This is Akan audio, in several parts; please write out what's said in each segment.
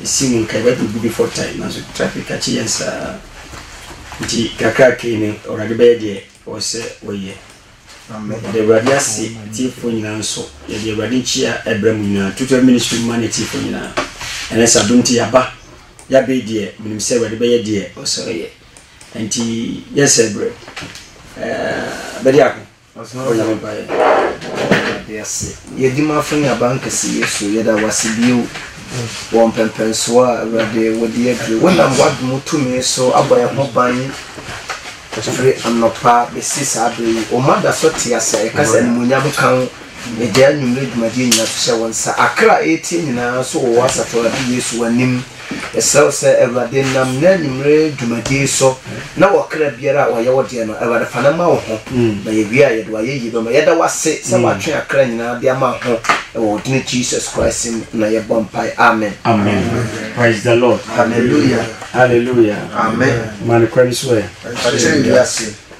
Mesi mu nkae Bible gu before time nanso traffic akye yɛn saa nti kakrakra yi no Awurade bɛyɛ deɛ ɔwɔ sɛ ɔyɛ. Yɛde Awurade ase atiefoɔ nyinaa nso yɛde Awurade nkyia ɛbrɛ mu nyinaa Tutor Ministry mma ne atiefoɔ nyinaa ɛnɛ sɛ adom nti yɛaba yɛabɛi deɛ menim sɛ Awurade bɛyɛ deɛ ɔsɛ ɔyɛ nti yɛsɛ brɛ bɛde ako Ɔsɔɔ na ɔbaeɛ Awurade ase. Yɛdi m'afo ne abankɛse Yesu yɛda w'ase bio wɔ mpɛmpɛnsoɔ a Awurade wode aduru wonam w'adom tumi so abɔ yɛn ho ban firi anɔpa bɛsi saa berɛ yi oma da so te ase a yɛka sɛ animuonyam nka wo yɛgyae anwummerɛ dwumadie nyinaa to hyɛ wo nsa akra a ɛretie nyinaa nso wɔ w'asafo Awurade Yesu w'anim Yɛsrɛw sɛ Awurade nam nnɛ anwummere dwumadi yi so na wɔ kra biara a ɔyɛ wo deɛ no, Awurade fa no ma wo ho, na yɛwie a yɛde wo ayɛyie bɛma. Yɛda wo ase sɛ woatwe akra nyinaa de ama ho, ɛwɔ wo dini Jesus Christ mu na yɛbɔ mpae. Amen. Amen. Praise the Lord. Hallelujah. Hallelujah. Amen. Ma no kwan so ɛ. Ɔkyerɛ wiase.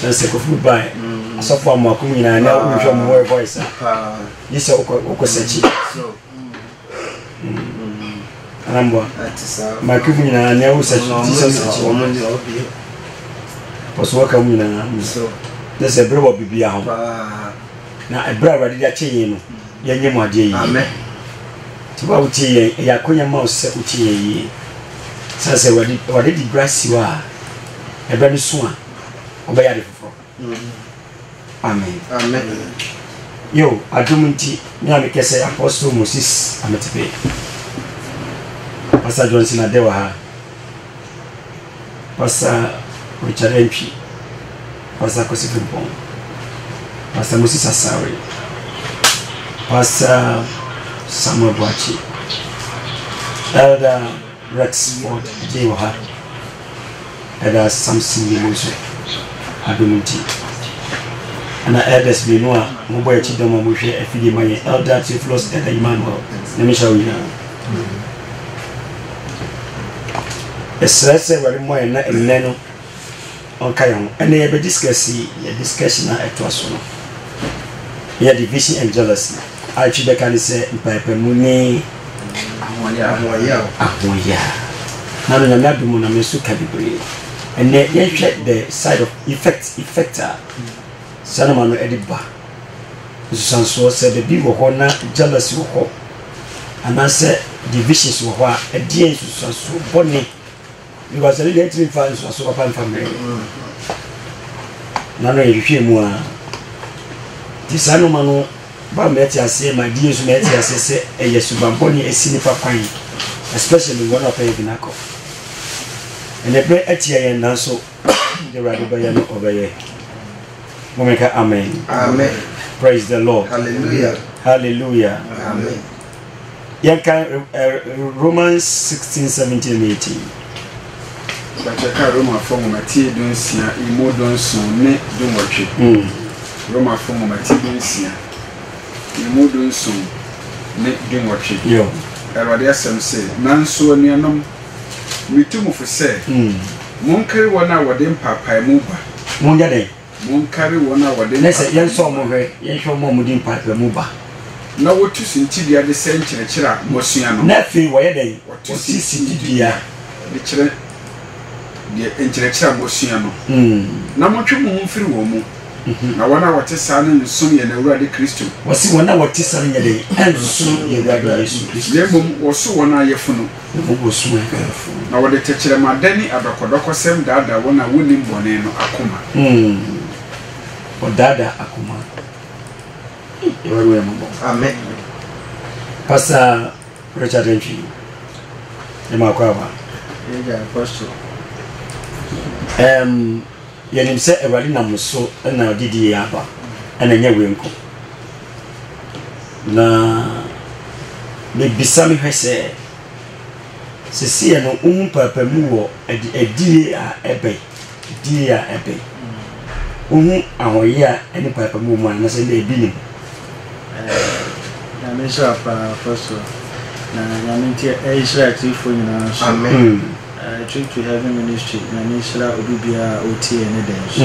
Sɛ sɛ Kofi bi bae, asɔfo a mako nyinaa na wohwɛ mo wɔ voice a, gye sɛ wokɔ sɛkyi. Anamboa, mako bi nyinaa na wo sɛkyi, gye sɛ sɛkyi wɔ. Pɔso wɔka mu nyinaa, gye sɛ bere wɔ bibia ho. Na ɛberɛ a Awurade de akyɛ yɛn no, yɛnyɛ mu adeɛ yie. Nti wo a wotie yɛn, ɛyɛ akonya ma wo sɛ wotie yɛn yie. Sɛ sɛ Awurade de bra si hɔ a, ɛberɛ no so a, ɔbɛyɛ ade foforɔ amen amen yo adom nti me a mekɛ sɛ apostle moses ametepe pastor johnson adɛ wɔ ha pastor richard antwi pastor akosi frimpɔn pastor moses asawe pastor samuel boakye elder Rexford gyee ɔha ɛda Samson yɛ mu nso adom nti ɛna elders mmienu a wɔn bɔ akyi dɔm a wɔn hwɛ afidie ma yɛn elder Theophilus elder Emmanuel nyame hyɛ wɔn nyinaa ɛsrɛ sɛ awurade mmɔ yɛn na ɛnɛ no Ɔnka yɛn ho. Ɛnɛ yɛbɛ discuss yɛ discussion a ɛtoa so no yɛ division and jealousy a etwi bɛka ne sɛ mpaapamu ne ahoɔyaw. Ahoɔyaa. Na no Nyame adom na me nso ka bebree. Ɛnɛ yɛnhwɛ the side of effect effect a saa nnoɔma no ɛde ba. Nsusuansoɔ sɛ baabi wɔ hɔ na jealousy wɔ hɔ anaasɛ divisions wɔ hɔ a ɛdeɛn nsusuansoɔ bɔne Because ɛno deɛ ntumi mfa nsuaso papa mfa mmerɛ na no yɛhwehwɛ mu a nti saa nnoɔma no ba mɛte aseɛ ma die nso mɛte aseɛ sɛ ɛyɛ subampɔne asi nipa kwan especially wɔn a ɔpɛyɛ binakɔ ɛnɛ berɛ atia yɛn nanso de awurade bɛyɛ no ɔbɛyɛ momeka amen amen praise the lord hallelujah hallelujah amen yɛnkan romans 16 17 and 18 bɛkyɛka romafo nwomatie dunsia emu dunson ne dunwɔtwe hmm. romafo nwomatie dunsia emu dunson ne dunwɔtwe awurade asɛm se nanso anuanom metu mo fo sɛ hmm. monkari wɔn a wɔde mpaapaemu ba monyɛ dɛn Monkari wɔn a wɔde mpaebɔ mu ba. Ɛnnɛ sɛ yɛnsɔ wɔn hwɛ, yɛnhwɛ wɔn a wɔde mpaebɔ mu ba. Na wɔtu suntidua de sɛ nkyerɛkyerɛ a wɔasua no. Na afei wɔyɛ dɛn? Wɔtu suntidua de kyerɛ deɛ nkyerɛkyerɛ a wɔasua no. Na montwe mo ho mfiri wɔn mu, na wɔn a wɔte saa no nsom yɛn Awurade Kristo. Wɔse wɔn a wɔte saa no nyɛ dɛn? Ɛnsom yɛn Awurade Yesu Kristo. Na mmom wɔso wɔn a yɛafunu. ne bo bu so yɛ afuw. Na wɔde tɛkyerɛmada ne adɔkɔdɔkɔsɛm daadaa wɔn a wonnim bɔne no akoma. Wɔdaadaa akoma. Awurade hu yɛn mmɔbɔ. Amen. Pastor Richard Antwi, yɛ maa kɔ aba. Ɛgya apɔsɔ. Um, Yɛnim sɛ Awurade nam mo so na ɔde di yei aba, na ɛnyɛ wei nko. Na mebisa mehwɛ sɛ, seseɛ no wohu mpaapamu wɔ adie a ɛbɛn, adie a ɛbɛn, wohu ahoɔyɛ a ɛne mpaapamu wɔ mu anaa sɛ ndɛ ebi nim? Nyame nhyira paa fa so na Nyame nti ɛnhyira atiefo nyinaa nso. Amen. Eh Trip to Heaven Ministry Nyame nhyira obi biara a ɔtiee ne dɛn so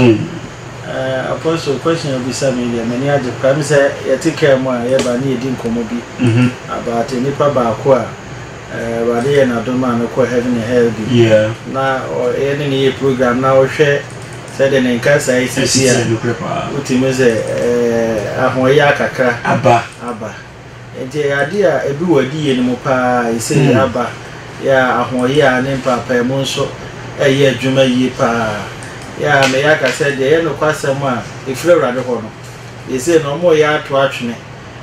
Eh Apostle question a wobisa me yi deɛ m'ani agye paa Ɛne sɛ yɛte car mu a yɛba ne yɛdi nkɔmmɔ bi about nnipa baako a eh Awurade yɛɛ no adom maa no kɔɔ Heaven and Hell bi Na ɔ yɛne no yɛ program na wohwɛ sɛdeɛ ne nkasaeɛ sisi a wotumi sɛ eh ahoɔyaa kakra aba. Enti ɛyɛ ade a edu w'adiyie no mu pa ara. Ɛsɛ yei aba yɛ a ahoɔyaa ne mpaapaemu nso reyɛ adwuma yie pa ara. Yɛ a meyɛ aka sɛ deɛ ɛyɛ nokwasɛm a ɛfiri Awurade hɔ no, yɛ sei no wɔreyɛ ato atwene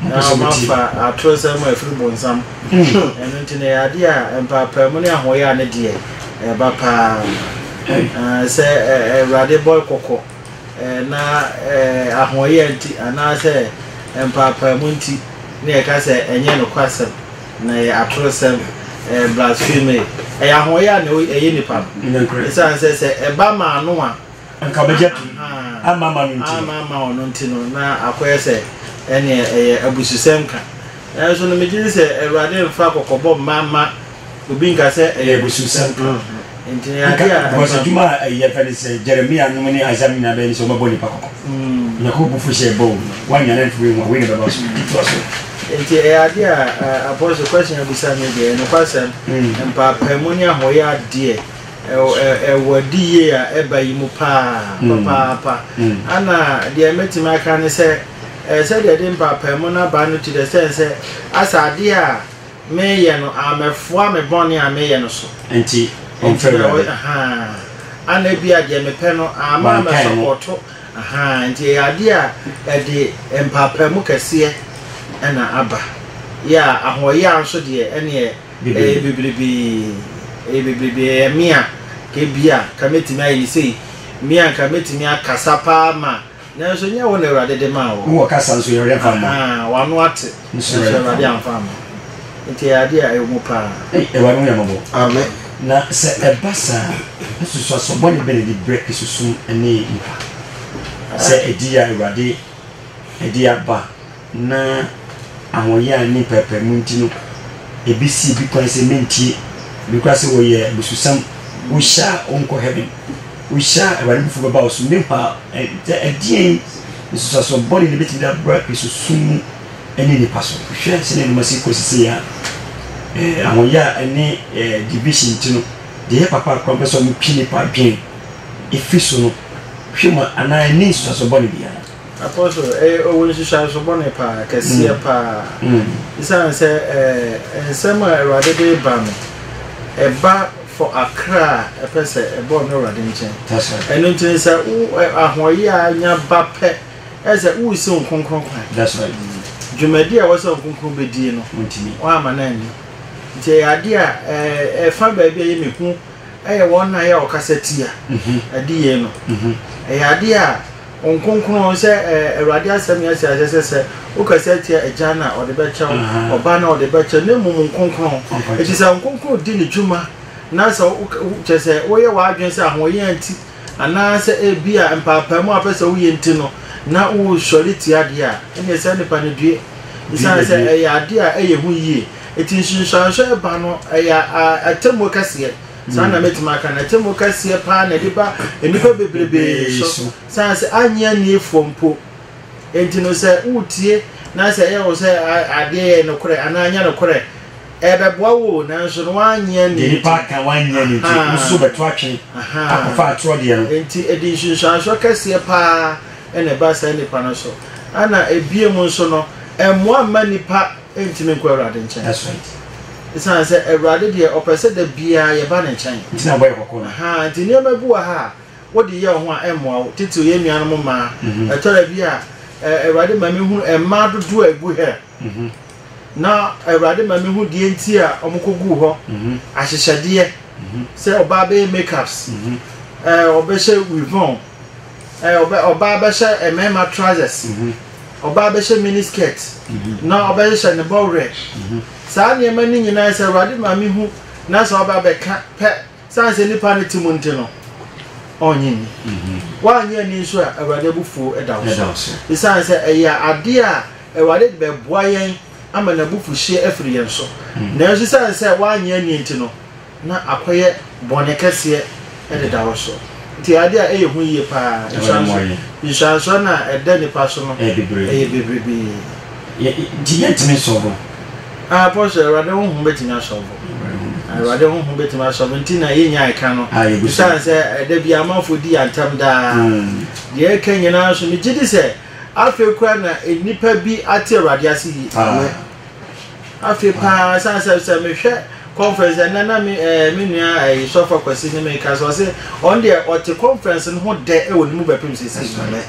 na wɔafa atoro nsɛm a ɛfiri bonsam. Ɛno nti no ɛyɛ adeɛ a mpaapaemu ne ahoɔyaa no deɛ ɛba pa ara. Sɛ Awurade bɔ kɔkɔ. Na ahoɔyɛ nti anaasɛ mpaapaemu nti na yɛka sɛ ɛnyɛ nokwasɛm, na ɛyɛ atorosɛm, ɛyɛ blaspheme, ɛyɛ ahoɔyɛ a na ɛyɛ nipa no. Esiane sɛ sɛ ɛba ma ano a nka ɔbɛgya pii ama ama no nti ama ama ɔno nti no na akɔyɛ sɛ ɛneɛ ɛyɛ abususɛm ka. Nanso no megye di sɛ Awurade mfa kɔkɔbɔ mma mma Obi nka sɛ ɛyɛ abususɛm. Nti ɛyɛ ade a. Because adwuma a ɛyɛ fɛ ne sɛ Jeremia nom ne Isaiah nyinaa bɛyɛ ne sɛ wɔbɛbɔ nipa kɔkɔ. Onyankopɔn bo fu hyɛ ɛbɔ o. Woannya no anto wei ho a, wei na ɛbɛba so. Nti toa so. Nti ɛyɛ ade a Apostle question a wobisa no deɛ, nokwasɛm, mpaapaemu ne ahoyɛ adeɛ ɛwɔ adi yie a ɛba yi mu paa papaapa. Ana deɛ mɛtumi aka ne sɛ, sɛdeɛ ɛde mpaapaemu no aba no te dɛ sɛn sɛ asɛ adeɛ a Meyɛ no a, mɛfoa me bɔne a meyɛ no so. Enti ɔmfa Awurade. Ana ebia deɛ mepɛ no ara ma mɛsɔpɔɔto? Enti ɛyɛ adeɛ a ɛde mpaapaemu kɛseɛ na aba. Yɛ a ahoɔyaa nso deɛ, ɛnneɛ ɛyɛ bebrebe. Ɛyɛ bebrebe. Ɛyɛ me a, anka ebia, anka mɛtumi ayɛ no sei. Me a, anka mɛtumi akasa paa ma. Nanso nyɛ wo na Awurade de maa wo. Wowɔ kasa nso Awurade amfa amma wo. Ahaa, w'ano ate, nanso Awurade amfa amma wo. Enti ɛyɛ adeɛ a ɛwɔ mu pa ara. Ei, Awurade hu yɛn mmɔbɔ. Amen. Na sɛ ɛba saa a, asusuasoɔ bɔne bɛn na ɛdi berɛ sunsum ne nipa? Sɛ ɛdi yɛ a, Awurade ɛde aba. Ná ahoɔyaa ne mpaapaemu nti no, ebi sii bi kwan sɛ mentie. Ebi koraa se wɔyɛ abususɛm. Wohyɛ a wonkɔ heaven. Wohyɛ a Awurade abufuw bɛba wo so. Mehu a ɛ ɛ ɛdeɛn nsunsuansoɔ bɔne na ebetumi de abra Kristosom mu ne nnipa so? Hwɛ sɛnea nneɛma si rekɔ seesei a ɛ ɛ ahoɔyaa ne ɛ ɛ division nti no, deɛ ɛyɛ papa a koraa wɔpɛ sɛ wɔtwe nnipa adwene fi so no, hwɛ mu a anaa ɛnni nsunsuansoɔ bɔne biara. Akɔ so. Ɛyɛ owu nhyehyɛeso bɔne paa, kɛseɛ paa. Esiane sɛ ɛɛ nsɛm a Awurade de reba no, ɛba for akra a ɛpɛ sɛ ɛba ɔno Awurade nkyɛn. Ɛno nti no sɛ wo ɛ ahoɔyea nya ba pɛ, ɛyɛ sɛ woresi wo kronkron kwan. Dwumadi a ɛwɔ sɛ wo kronkron bɛdie no, woamma no anni. Nti ɛyɛ adeɛ a ɛɛ ɛfa baabi a ɛyɛ me hu, ɛyɛ wɔn a ɛyɛ a wɔkasa tia adiyie no. Ɛyɛ adeɛ a. Ɔnkronkron, sɛ Awurade asɛm yɛ sɛ ɛsɛ sɛ sɛ wokasa tia Agya no a, ɔde bɛkyɛ wo, Ɔba no a, ɔde bɛkyɛ wo, na mmom Nkronkron. Enti sɛ Nkronkron di ne dwuma, na sɛ woka, kyerɛ sɛ, woyɛ w'adwene sɛ ahoɔyea nti, anaasɛ ebia mpaapaemu a wopɛ sɛ woyɛ nti no, na wosɔre tia adeɛ a, ɛnneɛ saa nipa no due, esiane sɛ ɛyɛ adeɛ a ɛyɛ hu yie. Enti nsunsuanso a ɛba no, ɛyɛ atemmuo kɛseɛ. Saa na mɛtumi aka no. Atemmu kɛseɛ paa na ɛde ba nnipa bebrebe so, sane sɛ annye anniefoɔ mpo. Enti no, sɛ woretie na sɛ ɛyɛ wo sɛ adeɛ yɛ nokorɛ anaa anyɛ nokorɛ, ɛbɛboa wo o, nanso no woannye annie. Deɛ nnipa aka woannye annie nti, wo nso wobɛto atwe akɔfa atorɔ deɛ no. Enti ɛde nsunsuansoɔ kɛseɛ paa na ɛba saa nnipa no so. Ɛna ɛbiem nso no, ɛmmoa mma nnipa. Ɛrentumi nkɔ Awurade nkyɛn. That's right. Ɛsiane sɛ Awurade deɛ ɔpɛ sɛ da biara yɛba ne nkyɛn. Nti na bɔ yɛ kɔkɔɔ no. Ahaa, nti nneɛma bi wɔ ha a wode yɛ wo ho a ɛmmoa wo. Titiriw yɛn nuanom mmaa. Mhm. Ɛtɔ da bi a ɛ, Awurade ma mehu mmaa dodoɔ a ɛgu hɛ. Mhm. Na Awurade ma mehu deɛ nti a wɔkɔguu hɔ. Mhm. Ahyehyɛdeɛ. Mhm. Sɛ ɔbaa bɛyɛ makeups. Mhm. Ɛ, ɔbɛhyɛ weave on. Ɛ, ɔbɛ, ɔbaa bɛhyɛ ɛ, mmarima trousers. Mhm. Ɔbaa bɛhyɛ mini skirt, na ɔbɛhyehyɛ ne bɔwerɛ. Saa nneɛma no nyinaa yɛ sɛ Awurade ma mehu na sɛ ɔba bɛka pɛ, sane sɛ nnipa no te mu nti no, ɔnnye nni. Woannye anni nso a, Awurade abufuo da wo so. Esiane sɛ ɛyɛ adeɛ a Awurade de bɛboa yɛn ama n'abufuhyeɛ afiri yɛn so. Nanso esiane sɛ woannye anni nti no, na akɔyɛ bɔne kɛseɛ deda wo so. Nti adeɛ a ɛyɛ hu yie pa ara, nsuansoɔ no a ɛda nnipa so no yɛ bebrebe. Nti yɛntumi sɔ bo? Aa, Apostle, Awurade Honhom bɛtumi asɔ wo bo. Awurade Honhom bɛtumi asɔ bo. Nti na yɛnnya ɛka no, ɛsiane sɛ ɛda biara amanfoɔ di yɛn ntɛm daa. Deɛ ɛka nyinaa nso, megye di sɛ afei koraa na nnipa bi ate Awurade ase yie. Afei paa ɛsiane sɛ sɛ mehwɛ conference ɛnɛ na me ɛɛ eh, me nua ɛɛ eh, sɔfo akwasi ne me kasa ɔsɛ ɔn deɛ ɔte conference no ho dɛ ɛwɔ ne mu bɛpem sisi no mɛ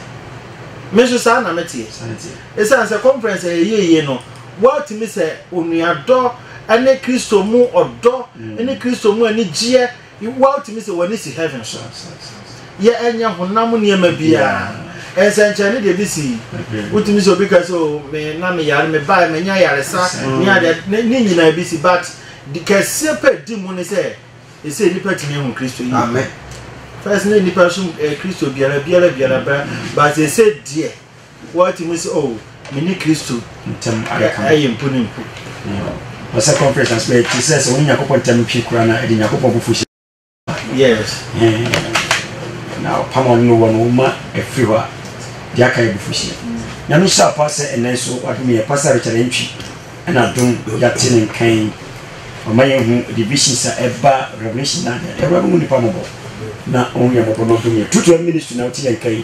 me nso saa na mete ɛsiane sɛ conference ɛyɛ yie yie no wɔatumi sɛ onuadɔ ɛne kristo mu ɔdɔ ɛne mm. kristo mu anigyeɛ Woa wotumi sɛ w'ani si heaven so. Yɛ ɛnyɛ honam nneɛma biara. Nsɛnkyerɛnne deɛ bi si. Wotumi sɛ obi ka sɛ o me na me yare me bae me nya yaresa ne adeɛ ne ne nyinaa bi si but de kɛseɛ pɛ di mu ne sɛ ɛsɛ nipa tumi ehu Kristo yi. Amen. First ne nipa som eh, Kristo biara biara biara ba but ɛsɛ deɛ. Wɔte mu sɛ, Oh, me ne Kristo ntam adaka no yɛ mpuni mpo. Ɔɔ, sɛ conference ase bɛyɛ te sɛ sɛ wo ne Nyankopɔn ntam ntwe koraa na ɛde Nyankopɔn abufuhyeɛ ba. Yes. Hɛɛn. Na ɔpam a ɔne no wɔ no, wo ma ɛfiri hɔ a, deɛ aka yɛ abufuhyeɛ. Nyame hyɛ apa sɛ ɛnnɛ nso Wadom yɛn. Pastor Richard Antwi na adom yɛate ne nka yi. Ɔma yɛhu divisions a ɛba Revelation 9 a. Awuraba hu nnipa mmɔbɔ na ɔhu yɛn mmɔbɔ na ɔdom yɛn. True to Him Ministry na wote yɛn nka yi.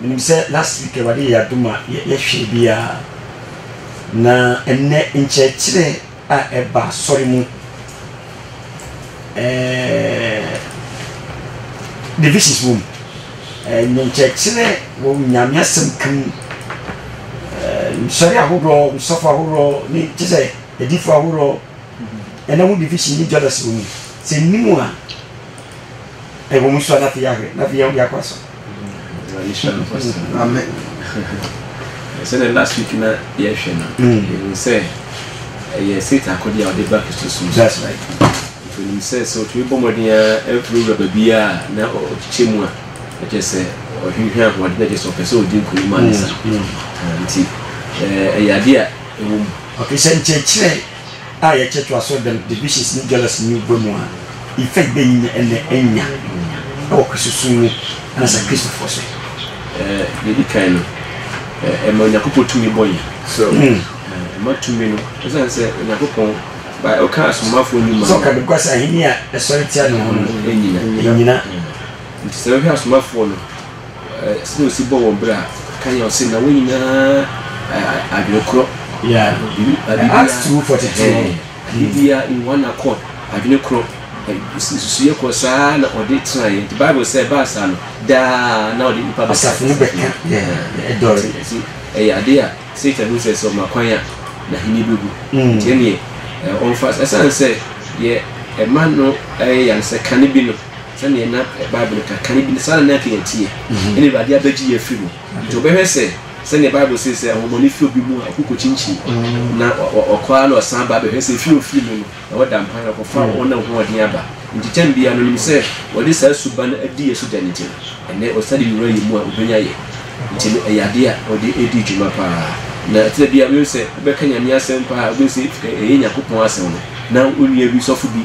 Menim sɛ last week Awurade yɛ adom a yɛhwɛɛ biara, na ɛnnɛ nkyerɛkyerɛ a ɛba asɔre mu, ɛɛɛ divisions wom, ɛnyɛ nkyerɛkyerɛ wɔ Nyame asɛm ka mu, ɛɛ nsɔre ahoroɔ, nsɔfo ahoroɔ, ne kyɛ sɛ adifo ahoroɔ, ɛna ho division ne jealousy wɔ mu, sɛ nnim a ɛwɔ mu nso a na afei yɛahwɛ, na afei yɛakɔ asɔre. Awurade hyira no ɔse. Amen. Sɛdeɛ last week na yɛhwɛ no, yɛhu sɛ ɛyɛ Satan akɔdeɛ a ɔde ba Kristosom so. Nti onim sɛ sɛ ɔtumi bɔ mmɔden ara awurawura baabiara a na ɔkyekyɛ mu a, na kyerɛ sɛ ɔhwehwɛ ahoɔden, na kyerɛ sɛ ɔpɛ sɛ ɔdi nkonim ansa. Nti ɛyɛ adeɛ a ɛwɔ mu. Okay, sɛ nkyerɛkyerɛ a yɛkyɛ toa so dɛm divisions nye jealousy nye ɔbɔ mu a, ifa ibenyin na enya wɔ Kristosom mu na sɛ Kristofo so. Dza edi kan no, ɛma Onyankopɔn tumi bɔ hɛn. So ɛma tumi no, osian sɛ Onyankopɔn by ɔka asomafo ndwuma no. Sɛ ɔka bɛbua sɛ ahenni a ɛsɔre tia ne ho no nnyina. Nti sɛ yɛhwɛ asomafo no. Sɛdeɛ ɔsi bɔ wɔn berɛ a, kan yɛ ɔse na wɔn nyinaa adwene korɔ, biribiara in one accord, adwene korɔ, nsusuiɛ korɔ, saa ara na ɔde tenaeɛ, nti Bible sɛ ɛbaa saa no, daa na ɔde nnipa bɛka asafo no bɛka, nti ɛyɛ adeɛ a Satan hu sɛ sɛ ɔma kwan a n'ahennie bɛgu, nti ɛnneɛ ɔmfa, ɛsiane sɛ deɛ ɛma no yɛ ya no sɛ kane bi no. sɛdeɛ na Bible ka, kane bi no, saa na na anka yɛteɛ, ɛnna Awurade abɛgye yɛn afiri mu. Nti wobɛhwɛ sɛ, sɛdeɛ Bible se sɛ, ahonhommɔne fi obi mu a, ɔko kɔkyinkyini, na ɔkɔ ara na ɔsan ba bɛhwɛ sɛ efie a ofii mu no, na wɔda mpan na wɔkɔfa wɔn a wɔho ɔden aba. Nti kyɛn biara no, onim sɛ wɔde saa suban no adi yɛn so dɛn nti no, ɛnnɛ ɔsan de wura yɛn mu a, obenya yɛn. Nti no, ɛyɛ adeɛ a ɔde redi dwuma pa ara. Na ɛtena bi a, wobɛhu sɛ wobɛka Nyame asɛm pa ara a, wobɛhu sɛ ɛyɛ Nyankopɔn asɛm no, na wo nua bi, sɔfo bi,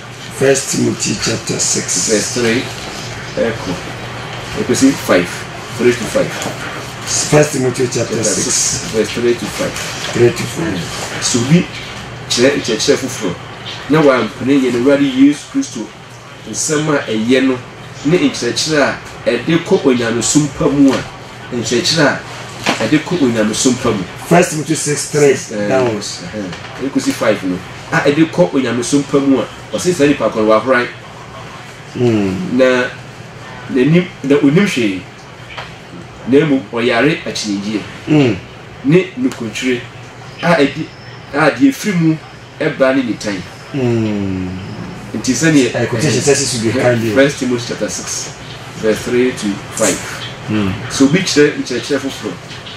First Timothy chapter six. Verse three ɛkɔ ɛkɔsi five three to five. First Timothy chapter six verse three to five. Three to five. So bi kyerɛ nkyerɛkyerɛ foforɔ na wampene yɛn Awurade Yesu Kristo nsɛm a ɛyɛ no ne nkyerɛkyerɛ a ɛde kɔ onyamesom pa mu a, nkyerɛkyerɛ a ɛde kɔ onyamesom pa mu. First Timothy six three downwards ɛkɔsi five no. a ɛde kɔ onyamesom pa mu a, ɔse saa nipa korɔ no wahoran na n'anim na onim hwee na mmom ɔyare akyinnyegyeɛ ne nukwakyire a ɛde a deɛ ɛfiri mu ba ne nitan. Nti sɛdeɛ ɛhe, First Timothy chapter six verse three to five, Sɛ obi kyerɛ nkyerɛkyerɛ foforɔ,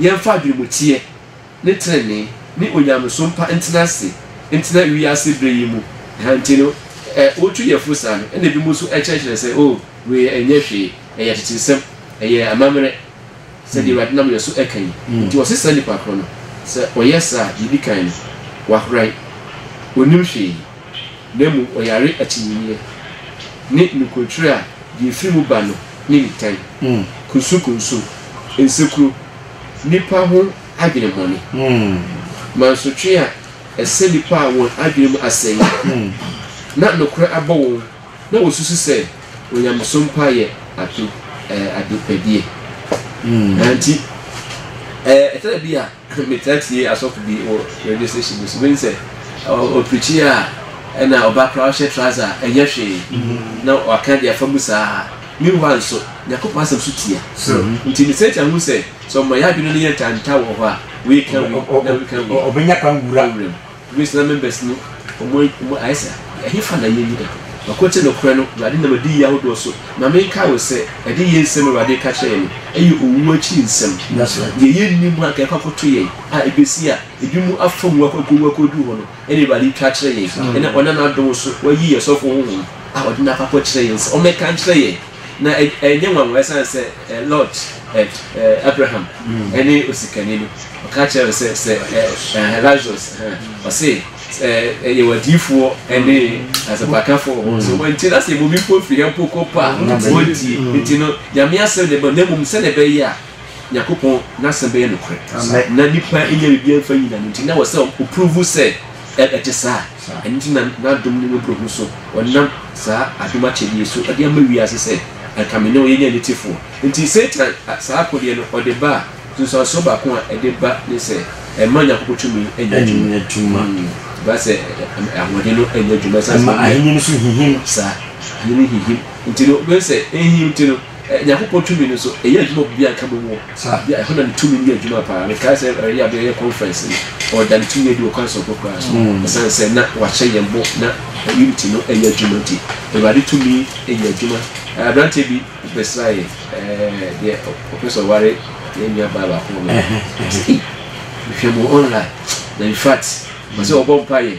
Yɛmfa adwenemuteɛ ne tenenee ne onyamesom pa ntena ase ntena wiase berɛ yi mu. Ɛha nti no, ɛ, wotu yɛn fo saa no, ɛnna ebinom nso kyerɛkyerɛ sɛ, Oh, wei ɛnyɛ hwee, ɛyɛ ateteesɛm, ɛyɛ amammerɛ, sɛdeɛ Awurade nam yɛn so reka yi. Enti wɔse saa nipa korɔ no, sɛ ɔyɛ saa a, deɛ ɛdi kan no, wahoran, ɔnnim hwee. na mmom ɔyare akyinnyegyeɛ, ne nokorɛtwerɛ a deɛ ɛfiri mu ba no ne nitan, kunsukunsu, nsekuro, nnipa ho adwenemɔne, mansotwe a ɛsɛ nnipa a wɔn adwene mu asɛeɛ, na nokorɛ abɔ wɔn na wɔsusu sɛ onyamesom pa yɛ ade, ɛɛ, adepɛdeɛ. Ɛno nti, ɛɛ, ɛtɔ da bi a. Metaa tie asɔfo bi wɔ radio station bi so, mehu sɛ ɔpreachi a ɛna ɔba koraa ɔhyɛ trouser a ɛnyɛ hwee na waka de afa mu saa. Meanwhile nso Nyankopɔn asɛm so tia. Nti me search ahu sɛ sɛ ɔma yɛn adwene no yɛ ntanta wɔ hɔ a, wei ka wei na wei ka wei. Ɔbɛnya kwan wura mu. Wisdom Members no, wɔn ayɛ sɛ ɛhefa na yɛn nnyina? Ɔko te nokorɛ no, Awurade nam adiyie ahodoɔ so ma me nkae wo sɛ, adiyie nsɛm a Awurade reka kyerɛ yɛn no, ɛyɛ owuo akyiri nsɛm. Nanso deɛ yɛnnim a anka ɛkɔ akɔto yɛn a ɛbɛsi a ebinom afa mu akɔwu akɔduru hɔ no, ɛna Awurade retwa akyerɛ yɛn, ɛna ɔnam n'adom so wayi yɛn sɔfoɔ honhom a ɔde no akɔ akɔkyerɛ yɛn sɛ ɔmmɛka nkyerɛ yɛn. Na ɛnyɛ nwanwa ɛsiane sɛ eh, Lot, eh, eh, Abraham ɛne mm. osikani no ɔka kyerɛ no sɛ sɛ eh, Lazarus ɔse yɛwɔ adiyifoɔ ɛne asɛmpakafoɔ wɔ hɔ so wɔnti na sɛ yɛbɔ bi mpo firi yɛ mpo kɔ pa wɔntie nti no nyame asɛm ne bɔ na mmom sɛdeɛ ɛbɛyɛ a Nyankopɔn n'asɛm bɛyɛ nokorɛ, na nnipa nnya biribiara mfa nyi n'ano nti, na ɛwɔ sɛ ɔprovu sɛ ɛte saa. Ɛno nti na n'adom ne mmɔborɔhunu so ɔnam saa adom akyɛdeɛ so de ama wiase sɛ anka me ne wo yɛnyɛ anitefoɔ. Nti Satan saa akodeɛ no ɔde ba a, nsunsuansoɔ baako a ɛde ba ne sɛ ɛmma Nyankopɔn tumi nyɛ adwuma. Ɛba sɛ ahoɔden no nyɛ adwuma ɛsiane sɛ. Ɛma ahennie no nso hinhim. Saa, ahennie no hinhim. Nti no, wobɛhu sɛ ɛhinhim nti no, Nyankopɔn tumi no so ɛyɛ adwuma obi biara nka bom wɔ bia ɛhɔ na ne tumi no yɛ adwuma paa mekae sɛ ɛyɛ abɛ yɛ conference no ɔda ne tumi adi ɔkwan soronko koraa so mm. ɛsiane sɛ na wahyɛ yɛn bɔ na unity no ɛyɛ adwuma nti awurade tumi ɛyɛ adwuma aberanteɛ bi bɛsra yɛ deɛ ɔpɛ sɛ ɔware yɛn nua baa baako wɔ mɛ mehwɛ mu online na in fact ɔsɛ ɔbɔ mpa yɛ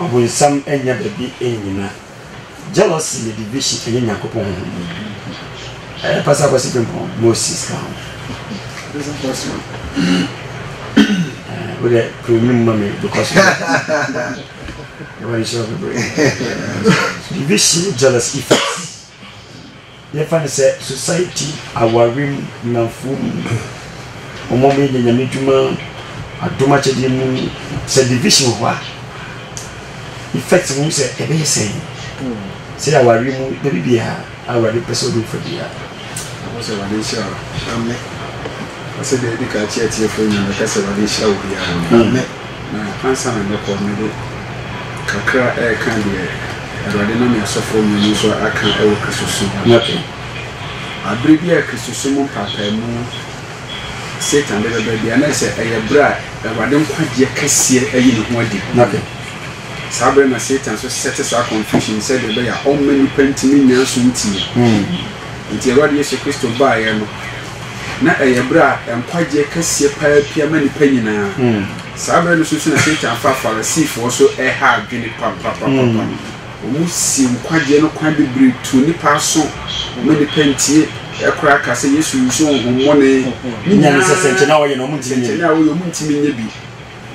Ɔbonsam nnya baabi nnyina. Jealousy yɛ division ɛnyɛ Nyankopɔn honhom mu. Ɛyɛ pasa kwasi bempɔn Moses ka ho. Pasa kwasi eh, wo dɛ kuro nim ma me because ɛwɔ ne sɛ ɔbɛbrɛ. Division jealous effects. Yɛfa no sɛ society aware mu nnamfoɔ mu wɔn a wɔyɛ nyame dwuma adom akyɛdeɛ mu sɛ division wɔ hɔ a effect no sɛ ɛbɛyɛ sɛn sɛ aware mu baabi biara awurade pɛ sɛ ɔde wofa biara ɛwɔ sɛ awurade nhyira wo amɛ ɔsɛ daabi ka akyerɛ atiefoɔ nyinaa mɛka sɛ awurade nhyira wo biara amɛ Na ansa na mɛkɔ no, mede kakra reka deɛ Awurade nam yɛn asɔfoɔ mmienu so aka wɔ Kristosom ho no. Berɛ biara a Kristosom mpaapaemu Satan de bɛba biara, na ayɛ sɛ ɛyɛ berɛ a Awurade nkwagyeɛ kɛseɛ ayi ne ho adi ho no. Saa berɛ na Satan nso sɛte saa confusion no sɛdeɛ ɛbɛyɛ a ɔmma nnipa ntumi nnya asomdwie. Enti Awurade Yesu Kristo baeɛ no, Ná ɛyɛ bere a nkwagye kɛseɛ paa pia ma nnipa nyinaa. Saa bere no so nso na Satan faa Farisifoɔ so ha adwene papapapa. Wɔsii nkwagyeɛ no kwan bebree tuu nnipa aso ma nnipa ntie. Eɛ koraa ka sɛ Yesu wusuu honhommɔne. Ne nyinaa, nsɛnkyerɛnne a wɔyɛ no, wɔntumi nyɛ bi.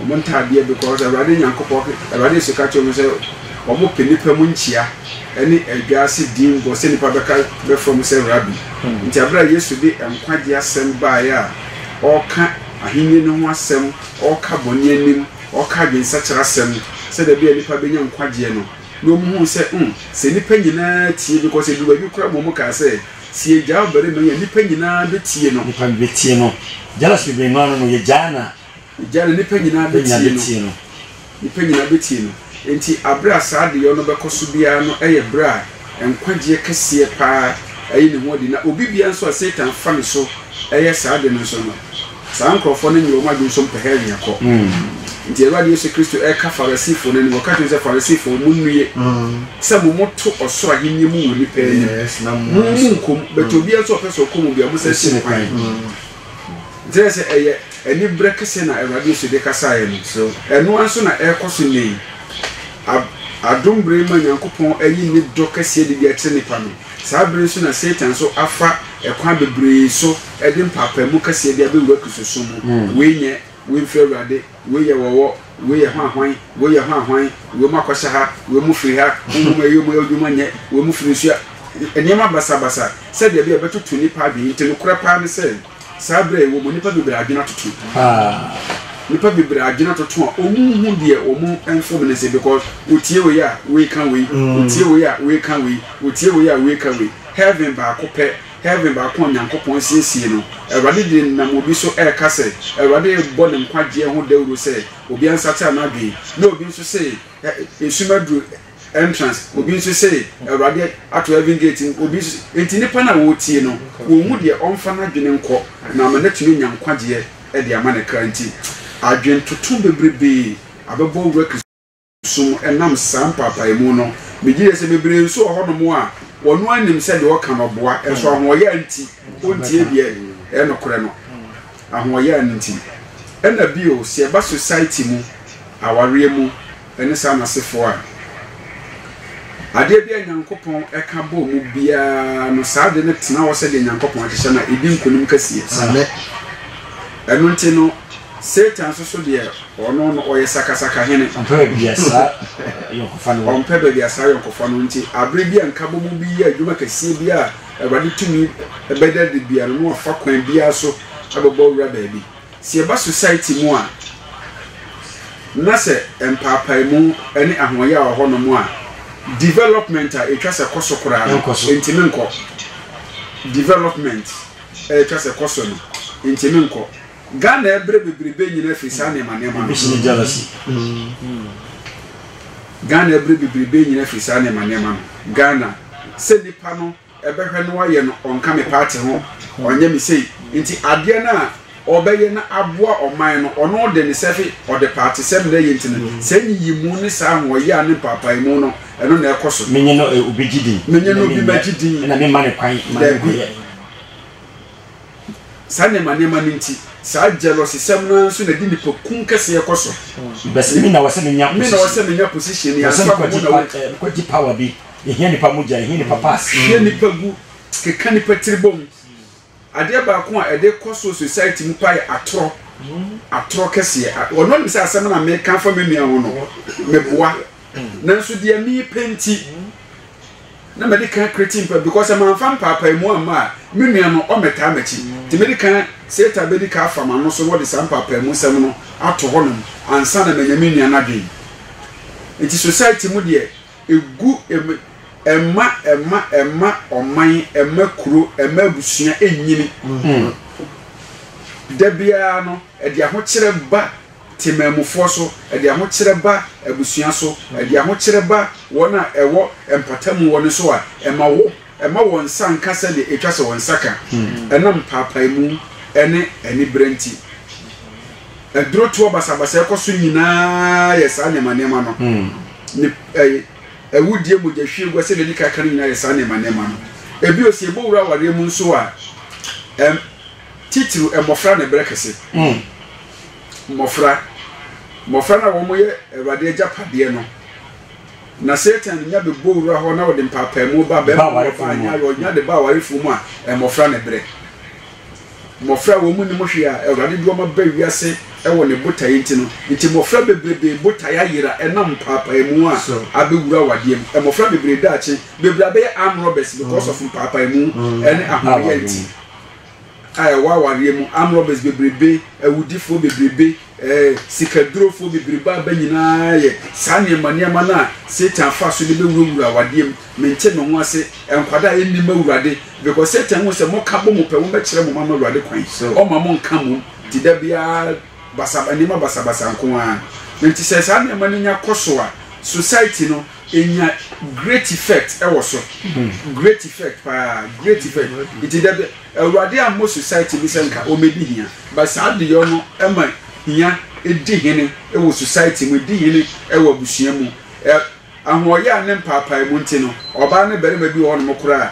Wɔn ntadeɛ because Awurade Nyankopɔn ka, Awurade nso ka kyerɛɛ wɔn sɛ, Wɔpɛ nnipa mu nkyia ne adwaase din bɔ sɛ nnipa bɛka bɛfrɛ mo sɛ Rabi. Nti berɛ a Yesu de nkwagyeɛ asɛm baeɛ a ɔreka ahennie no ho asɛm, ɔreka bɔne anim, ɔreka adwensakyera asɛm, sɛ da bi a nnipa bɛnya nkwagyeɛ no, na wɔn huu sɛ, hmm, sɛ nnipa nyinaa tie, because ɛduru baabi koraa ma wɔn kaa sɛ, sɛ yɛgyaa ɔbarima yi a nnipa nyinaa bɛtie no. Nnipa bɛtie no. Jealous bebree maa no no, yɛgyaa no a Egya no, nnipa nyinaa bɛtie no. Nnipa nyinaa bɛtie no. Enti berɛ a saa adeyɔ no bɛkɔ so biara no yɛ berɛ a nkwagyeɛ kɛseɛ pa ara yi ne ho adi. Na obi biara nso a Satan fa ne so yɛ saa ade no nso no, saa nkorɔfoɔ no nyɛ wɔn adwene sɛ wɔpɛ hɛl nkɔ. Enti Awurade Yesu Kristo reka Farisifoɔ no anim, ɔka kyerɛ wɔn sɛ, Farisifoɔ, monnue sɛ mo moto ɔsoro ahennie mu wɔ nnipa anim. Mo, monkɔ mu, but obiara nso a ɔpɛ sɛ ɔkɔ mu biara, monsɛɛse no kwan. Kyerɛ sɛ, ɛyɛ aniberɛ kɛseɛ na Awurade Yesu de kasaeɛ no. So ɛno ara nso na ɛrekɔ so nnɛ yi? Adom berɛ mu a Nyankopɔn ayi Ne dɔ kɛseɛ de bi akyerɛ nnipa no, saa berɛ yi nso na Satan nso afa ɛkwan bebree so de mpaapaemu kɛseɛ de abɛwura Kristosom mu. Wei nyɛ, wei mfiri Awurade. Wei yɛ wɔwɔ, wei yɛ hwanhwan, wei yɛ hwanhwan, wei mu akɔhyɛ ha, wei mu firi ha, honhom a ɛyɛ wɔn adwuma nyɛ, wei mu firi nsu a. Nneɛma basabasa sɛdeɛ ɛbɛyɛ a ɛbɛtoto nnipa adwene. Enti nokorɛ paa ne sɛ, saa berɛ a yɛwɔ mu nnipa bebree adwene atoto paa. Nnipa bebree adwene atoto a wɔnhu deɛ wɔn mfom no sɛ because wɔtie wei a, wei ka wei, wɔtie wei a, wei ka wei, wɔtie wei a, wei ka wei. Heaven baako pɛ Herve baako a Onyankopɔn asiesie no, Awurade de nam obi so reka sɛ Awurade rebɔ ne nkwagyeɛ ho dawuro sɛ obi ansakyera n'adwene, na obi nso se esum aduru entrance, obi nso se Awurade ato heaven gate mu, obi nso Enti nnipa no a wɔretie no, wɔnhu deɛ ɔmfa n'adwene nkɔ na ama no atumi anya nkwagyeɛ de ama ne kra nti, adwentoto bebrebe abɛbɔ owura Kristo. so mu ɛnam saa mpaapaemu no. Megye di sɛ bebree nso wɔ hɔnom a wɔn ara nim sɛ deɛ wɔka no boa, nso ahoɔyaa nti wɔntie deɛ ɛyɛ nokorɛ no. Ahoɔyaa no nti. Ɛna bio, sɛ yɛba society mu, awareɛ mu, ɛne saa n'asefoɔ a, adeɛ bi a Nyankopɔn ɛka bɔɔ mu biara no, saa ade no tena hɔ sɛdeɛ Nyankopɔn ahyehyɛ na ɛdi nkonim kɛseɛ. Ɛno nti no, Satan nso so deɛ, ɔno no, ɔyɛ sakasaka hene. Ɔmpɛ baabi a saa ayɔnkofa no wɔ. Ɔmpɛ baabi a saa ayɔnkofa no wɔ. Enti bere bi a nkabɔmu bi yɛ adwuma kɛseɛ bi a Awurade tumi bɛda adi biara no, na wafa kwan biara so abɛbɔ awura baabi. Sɛ yɛba Society mu a, na sɛ mpaapaemu ne ahoɔyaa wɔ hɔnom a, development a ɛtwa sɛ kɔ so koraa no, ɛntumi nkɔ. Development a ɛtwa sɛ kɔ so no, ɛntumi nkɔ. Ghana ɛbrɛ bebrebe nyina firi saa nneɛma nneɛma no. Ebi jealousy. Ghana ɛbrɛ bebrebe nyina firi saa nneɛma nneɛma no. Ghana sɛ nipa no ɛbɛhwɛ no ayɛ no ɔnka me party ho ɔnyɛ me sei nti adeɛ no a ɔbɛyɛ na aboa ɔman no ɔno ɔde ne sɛfe ɔde paatesɛm na ɛyɛ nti no saa nyiyimu ne saa ahoɔyɛ a ne mpaapaemu no ɛno na ɛkɔ so. Menye no obi gye din. Menye no obi ma gye din. Ɛna memma ne kwan ma ne nkɔyɛ. Saa nneɛma nneɛma no nti, saa jealousysɛm no ara nso na ɛde nipakum kɛseɛ kɔ so. Because me na wɔsɛ menya position. Me na wɔsɛ menya position. Yɛn nso abɔ mu na wɔn. Mekɔgye power bi. Yɛhia nipa mogya, yɛhia nipa pass. Hwɛ nipa gu, keka nipa tiri bom. Adeɛ baako a ɛde kɔ so society mu paa yɛ atorɔ. Atorɔ kɛseɛ. Ɔno nim sɛ asɛm na meka fa me nua ho no, meboa. Nanso deɛ mepɛ nti. na mede kan kreti mpa because sɛ manfa mpaapaemu amma a me nua no ɔmmɛtaa m'akyi nti mede kan Satan bɛdi ka afa m'ano so na ɔde saa mpaapaemu nsɛm no ato hɔnom ansa na manya me nua no adwene nti society mu deɛ ɛgu ɛma ɛma ɛma ɔman ɛma kuro ɛma abusua ɛnyini da biara no ɛde ahokyerɛ ba Temanmufoɔ so, ɛde ahokyerɛ ba abusua so, ɛde ahokyerɛ ba wɔn a ɛwɔ mpatamu wɔ no so a ɛma wo ɛma wɔn nsa nka sɛdeɛ ɛtwa sɛ wɔn nsa ka, ɛnam mpaapaemu ne aniberɛ nti. Aduro toɔ basabasa ɛkɔ so nyinaa yɛ saa nneɛma nneɛma no. Ne ɛ awudie mogyahwiegua sɛdeɛ yɛdi kan ka no nyinaa yɛ saa nneɛma nneɛma no. Ɛbio sɛ yɛbɛwura awareɛ mu nso a, ɛm. titiriw mmofra ne bere kɛse. Mmofra, mmofra no a wɔyɛ Awurade agyapadeɛ no, na Satan nya bɛbɔ wura hɔ na ɔde mpaapaemu ba bɛma ɔbaa nya awerɛ, ɔnya de ba awarefoɔ mu a, mmofra ne bere. Mmofra a wɔn nim hwee a Awurade de wɔn aba wiase wɔ ne botaeɛ nti no, nti mmofra bebrebe botaeɛ ayera ɛnam mpaapaemu a abɛwura awadeɛ mu. Mmofra bebree daakye bebree abɛyɛ arm robbers because of mpaapaemu ne ahoɔyɛ nti. a ɛwɔ awareɛ mu, arm robbers bebrebe, awudifoɔ bebrebe, eh, sikadurofoɔ bebrebe aba nyinaa yɛ saa nneɛma nneɛma no a Satan fa so de bɛwurawura awadeɛ mu. Mente me ho ase, nkwadaa a ɛnnim Awurade, because Satan hu sɛ moka bɔ mo pɛ, wɔbɛkyerɛ mo ma mo Awurade kwan, ɔma mo nka mom, nti da biara basa nneɛma basabasa nko ara. Nti sɛ saa nneɛma no nya kɔ so a, society no Enya great effect wɔ so. Great effect paa. Great effect. Nti da bi, Awurade ammɔ society bi sɛ nka wɔmmɛdi hia, but saa adeyɔ no ma hia di hene wɔ society mu, ɛdi hene wɔ abusua mu. Ɛ, ahoɔyaa ne mpaapaemu nti no, ɔbaa ne barima bi wɔ hɔnom koraa a,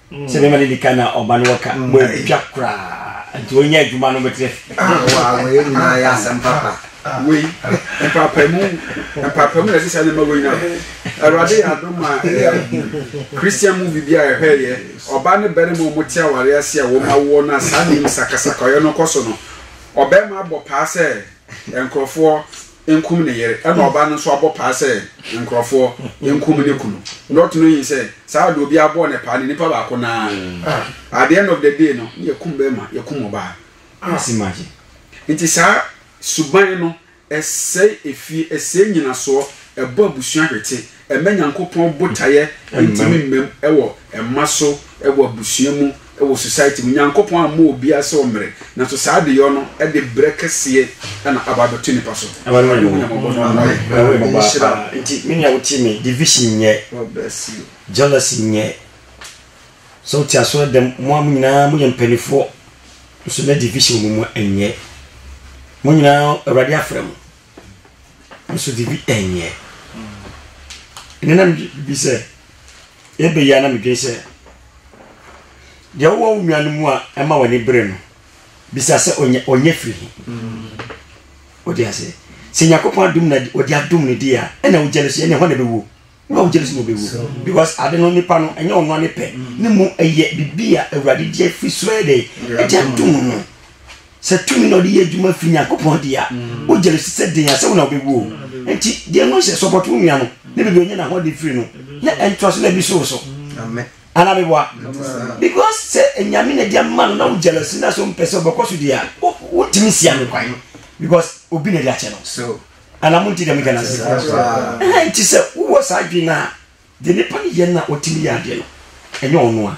sɛ bɛma no di ka na ɔba no wɔka mm. wɔatwa koraa nti ɔnyɛ adwuma no bɛtrɛ wɔyɛ nyinaa yɛ asɛm papa wei mpapamu mpapamu na ɛsɛ sɛ ne ma wei na awurade yɛ adom a christian movie bi a ɛhwɛeɛ ɔba ne bɛrima ɔmo te aware ase a wɔma woɔ no a saa nim sakasaka ɔyɛ no kɔ so no ɔbɛrima abɔ paa sɛ nkurɔfoɔ nkum ne yere ɛna ɔbaa no nso abɔ paa sɛ nkurɔfoɔ nkum ne kunu not knowing sɛ saa de obi abɔ ne paa ne nipa baako naa ah. at the end of the day no ne yɛkum bɛrima yɛkum ɔbaa asi ah. magye nti saa suban no ɛsɛe efie ɛsɛe nyinasoɔ ɛbɔ abusua hwete Mma Nyankopɔn botaeɛ ntimi mmam wɔ mma so, wɔ abusua mu, wɔ society mu. Nyankopɔn ammɔ obiara sɛ ɔmmere, nanso saa adeyɔ no de berɛ kɛseɛ na aba abɛto nnipa so. Awurade hu yɛn mmɔbɔ na ɔmmoa yɛn. Awurade nhyira wo. Nti me nua wotie me, division nyɛ, jealousy nyɛ, sɛ wote asɔre dɛm mo a mo nyinaa moyɛ mpaninfoɔ nso na division wɔ mo mu nyɛ, mo nyinaa Awurade afrɛ mo. nso de bi nyɛ ɛnɛ na mebi sɛ ɛbɛ yi a na medwen sɛ deɛ wowɔ wo nua no mu a ɛma w'ani bere no bisa sɛ ɔnyɛ firi he wode aseɛ sɛ nyankopɔn adom na ɔde adom no deɛ a ɛna wogyɛ no so ɛne hɔ na ɛbɛwuo na ɔgye ne sɛ wɔbɛwu because ade no nipa no ɛnyɛ ɔno ne pɛ ne mu ɛyɛ biribi a awurade gye afiri so ɛyɛ dɛ ɛgya ntom no sɛ tumi na ɔde yɛ adwuma firi nyankopɔn de a wogye no sɛ den a sɛ wo na wobɛwu o nti deɛ no sɛ sɔpɔto wo nua no ne baabi ɔnyɛ n'ahoɔden firi no na ɛntoa so na bi so wo so ana meboa because sɛ nyame na de ama no na wo jealousy na sɛ wompɛ sɛ wobɛkɔ so deɛ a wontumi nsia no kwan because obi na de akyɛ no Ana monte dɛm Ghana se? Ɛhɛn nti sɛ wowɔ saa adwene no a, deɛ nipa no yɛ no a ɔtumi yɛ adeɛ no, ɛnyɛ ɔno a.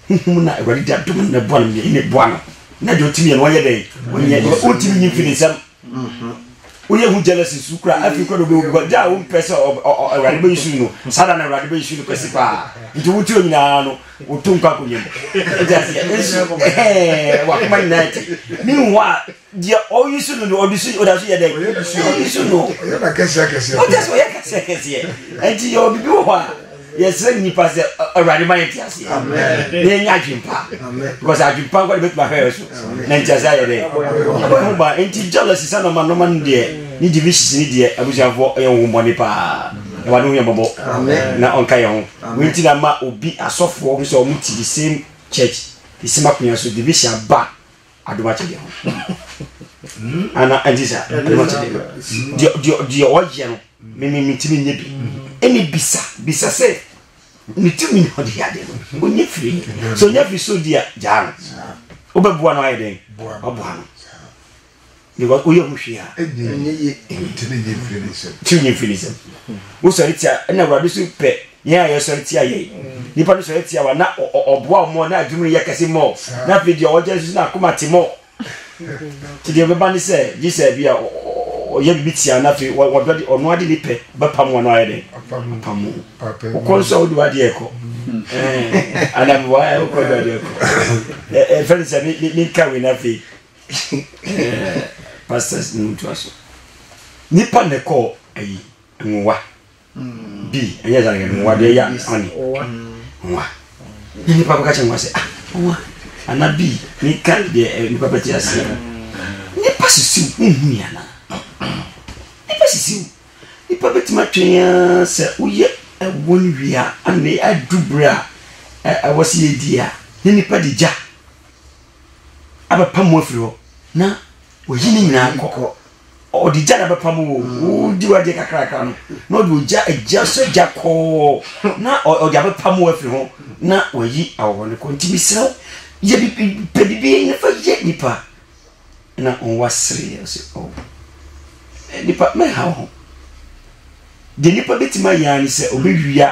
Honhom no a Awurade de adom no na ɛboa no no, yɛn na ɛboa no na deɛ ɔtumi yɛ no ɔnyɛ dɛn? Ɔnyɛ. Deɛ ɔntumi nyi mfi ne nsam. Woyɛ ho jealousy su kura afei kura na ɔbɛwu because da a wompɛ sɛ Awurade bɛyi su no saa da na Awurade bɛyi su no kɛse paa nti wote ɔ nyinaa no woto nkɔ akonnwa mu. Nti aseɛ nsu ɛhɛɛ wakoma nyinaa ti ne nhu a Deɛ ɔyi so no no ɔde so ɔda so yɛ dɛ ɔyi so no ɔyɛ na kɛseɛ akɛseɛ ɔda so ɔyɛ kɛseɛ akɛseɛ nti yɛ obibi wɔ hɔ a yɛsrɛ nnipa sɛ awurade ma yɛ nti aseɛ na yɛnya adwempa because adwempa nkɔ de bɛtumi ahwɛ yɛ so na nti aseɛ ayɛ dɛ ɛbɔ yɛ ho ba nti jealousy sɛ nɔma nɔma no deɛ ne divisions ne deɛ abusuafoɔ ɛyɛ ho mmɔne paa ɛwade ho yɛ mmɔbɔ na ɔnka yɛ ho wei nti na ma obi asɔfoɔ ho sɛ ɔmo ti the same church the same akonnwa so division aba adom akyɛdeɛ ho ana ɛnti sɛ adom akyɛdeɛ no deɛ ɔyɛ no memetumi nyɛ bi ɛne bisa bisa sɛ ne tumi na ɔde yɛ adeɛ no ɔnyɛ firi sɛ ɔnya firi sɛ ɔdi a gyaa no wobɛboa no ayɛ dɛn waboa no Because woyɛ ho hwee a ɛnyɛ ye. Ti ne nyi mfiri ne nsam. Ti nyi mfiri ne nsam. Wosɔre tia ɛna awurade so pɛ yɛn a yɛsɔre tia yɛn. Nipa no sɔre tia wa na ɔboa wɔn mɔ na adwuma no yɛ kɛse mɔ na afei deɛ ɔgya nso na akoma te mɔ. Ti deɛ bɛba ne sɛ gye sɛ bi a ɔyɛ biribi tia na afei wɔdɔ de ɔno ade ne pɛ bɛpam wɔn ayɛ dɛ. Apam mu. Wokɔ nso a wode wadeɛ kɔ. Anam wa wokɔ de wadeɛ kɔ. Ɛfɛ ne sɛ me nka wei na afei. pastors no mutua so nipa na ɛkɔ ayi nwowa mm. bi ɛnyɛ sɛ yɛ nwowa deɛ ɛyɛ ɔne nwowa na nipa bɛka kyɛ nwowa sɛ ah nwowa ana bi ne ka deɛ eh, nipa bɛte aseɛ mm. nipa sisiw wohu ni ana nipa sisiw nipa bɛtumi atwɛn a sɛ woyɛ ɛwɔ no wie a ane adu berɛ a ɛwɔ sɛ yɛdi a ne nipa de gya abɛpam mo afiri hɔ na wayi ne nyinaa kɔ ɔde gya na bɛpam o wodi wadeɛ kakrakra no na ɔde ogya agya sɛ gya kɔɔ na ɔde abɛpam o afiri ho na wayi awɔ no kɔ nti mesrɛ wo yɛ pɛ biribi na fa yɛ nipa na ɔwa sereɛ sɛ o oh. eh, nipa mɛha wo ho deɛ nipa bɛtumi ayɛ ne sɛ ɔbɛwia